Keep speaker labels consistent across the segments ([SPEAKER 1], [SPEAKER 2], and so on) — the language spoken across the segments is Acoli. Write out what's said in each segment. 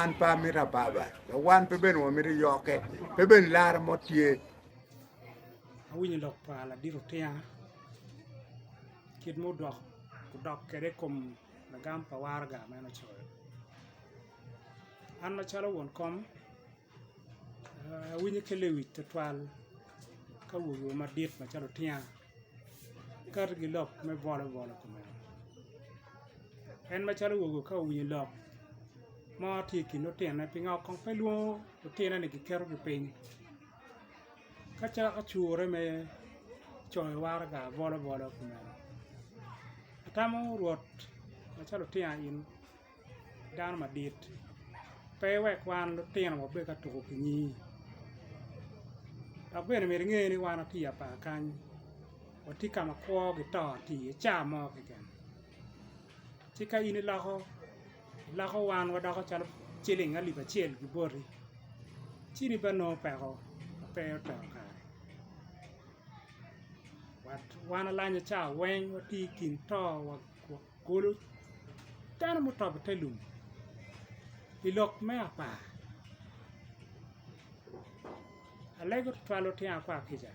[SPEAKER 1] Wan pe amito ababa, dok wan pe bene wamito yokke, pe bene laro mo tye.
[SPEAKER 2] Awinyo lok pa ladit otinga kit ma odok odok kwede i kom lagam pa waraga ma en ocoyo. An macalo won kom awinyo kelo i wic twatwal ka wogiwa madit macalo otinga Kato ki lok me bolo bolo kumeno en macalo owogo ka owinyo lok mo tye i kin lutinone pingo kong pe lwongo lutinone ni giketo gi piny ka cako cure me coyo waraga bolo bolo kumeno atamo rwot macalo otingo in dano madit pe wek wan lutino wabed ka tuko ki nyi dok bene myero inge ni wan watye i apar kany watye ka ma kwo ki to tye iye ca mo keken ci ka in iloko iloko wan wadoko calo ciling alip acel ki boti ci in ibino nongo peko ma pe oteno kare wat wan alanya ca weng watye i kin to wa Kulu, dano mutobo te lum i lok me apar, alego tutwal otyengo akwar kica,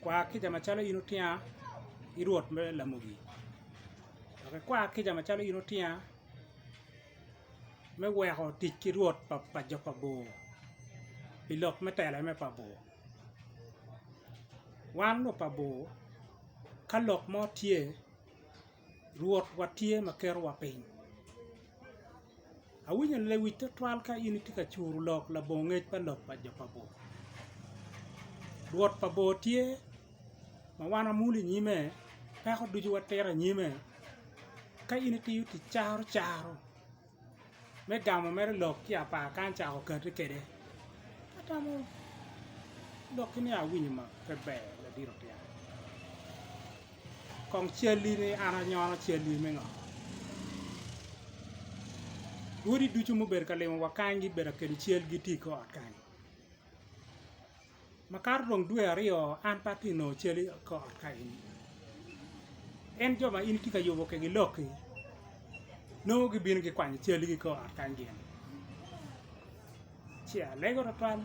[SPEAKER 2] kwar kica macalo in otyenga ki Rwot me lamogi, dok ikwar kica macalo in otyenga me weko tic ki Rwot pa jo pa bor pi lok me telo me pa bor. Wan lok pa bor ka lok mo tye rwot wa tye ma keto wa piny awinyo lewic twatwal ka in itye ka curo lok labongo ngec pa lok pa jo pa bor rwot pa bor tye ma wan wamulo inyime peko ducu watito inyime ka in itiyo tic caro caro me gamo mere lok ki apar kan cako kati kede atamo lok ki ni awinyo ma pe ber ladit otiya kong cali ni an anyono cali me ngo odi ducu mubedo ka limo wa kany gi bedo akelo cali gi ti i kor ot kany Makato dong dwe aryo an pe atye nongo cal i kor ot ka eni, en jo ma in itye ka yubo kwedgi lokki nongo gibino gikwanyo calgi i kor ot kany gin ci alego twatwal.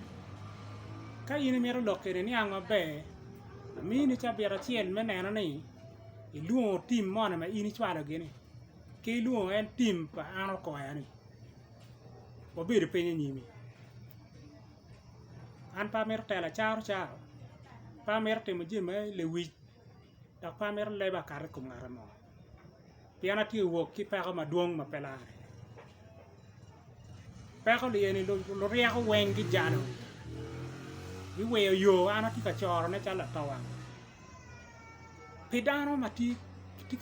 [SPEAKER 2] Ka in imito lok kwede niang maber amini cabit acel me neno ni ilwongo tim moni ma in icwalogi-ni ki ilwongo en tim pa an okoya-ni. Wabedo piny i nyimi. An pe amito telo acarocaro, pe amito timo jami me lewic, dok pe amito leba akato i kom ngat mo, pien atye ka wok ki peko madwong ma pe lare. Peko ni eni luryeko weng gijalo, giweyo yo ma an atye ka corone calo latowang. Pi dano ma tye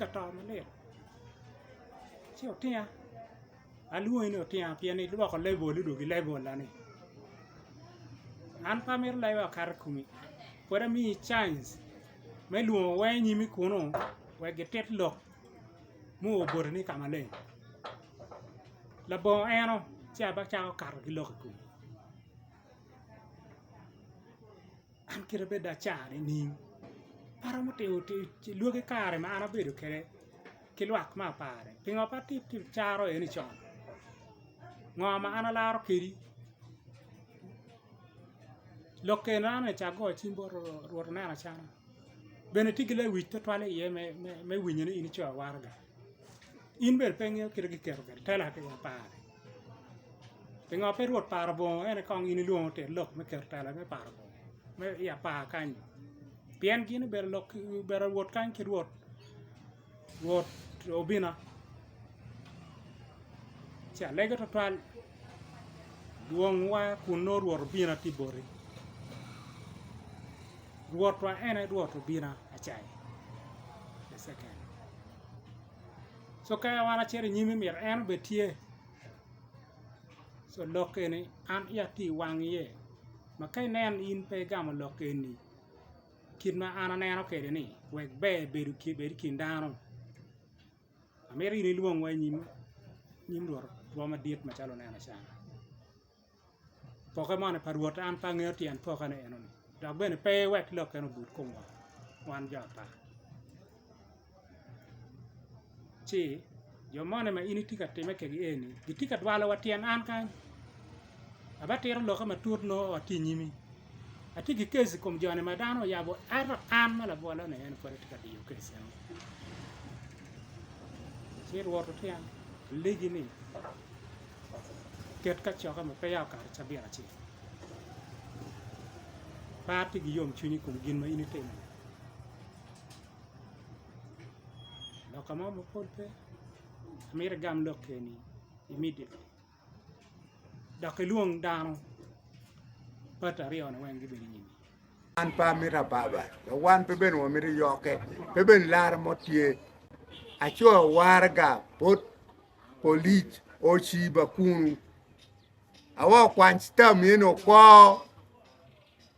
[SPEAKER 2] ka to malit ci otinga. Alwongi ni otyeno pien ilwoko lebol ni dong gi lebola ni. An pe amito laiba wa kato i komi pwod amiyi cainc me lwongo wer inyimi kunu wek gitit lok mu oboti ni ka maleng labongo eno ci abacako kato ki lok i komi. an kite pe dong acar nining aromo timo lwaki kare ma an abedo kwede ki lwak me aparani pingo pe acaro eni con ngo ma an alaro kwedi lok kene aneno ni acago cim bot rwot aneno acana bene tye ki lewic tutwal iye me winyo ni in ico awaraga. in bene pe ingeyo kit ma giketo kwede tela ki i apar-ri pingo pe rwot paro bongo en kong in ilwongo te lok me keto tela me paro bongo me i apar kany pien gin obedo lok obedo rwot kany ki rwot rwot obina ci alege tutwal Lwongwa kun nongo Rwot obina tye boti, Rwotwa en aye Rwot obina acai. Co ka wan acito i nyimi myero en obed tye, co lok eni an iya tye i wang iye ma ka inen in pe igamo lok eni kit ma an aneno kwede-ni wek ber bed i kin dano. Amito in ilwongwa i nyim rwotwa madit macalo oneno can. Pokke moni pa Rwot an pe angeyo tyen pokkene enoni, dok bene pe iwek lokkene obut komwa wan jo ata. Ci, jo moni ma in itye ka timme kwedgi eni gitye ka dwalowa tyen an kany, abatito lokke matut nongo watye i nyimi. Atye ki kes i kom joni ma dano oyabo, ento an ma labwolone en pud atye ka diyo kes eno. Ci Rwot otyen Ligi ni, Ket kacokke ma peya okato cabit acel. Par ci giyom cwinyi i kom gin ma in itimo-ni. Loka mo mapol pe, amito igam lok eni imidde. dok ilwong dano bati aryo ni weng gibedo inyimi. An pe amito
[SPEAKER 1] ababa, dok wan pe bene wamito yokke, pe bene laro mo tye. Aco waraga bot polic ociba kunu. Awa okwany cita myeni okwo.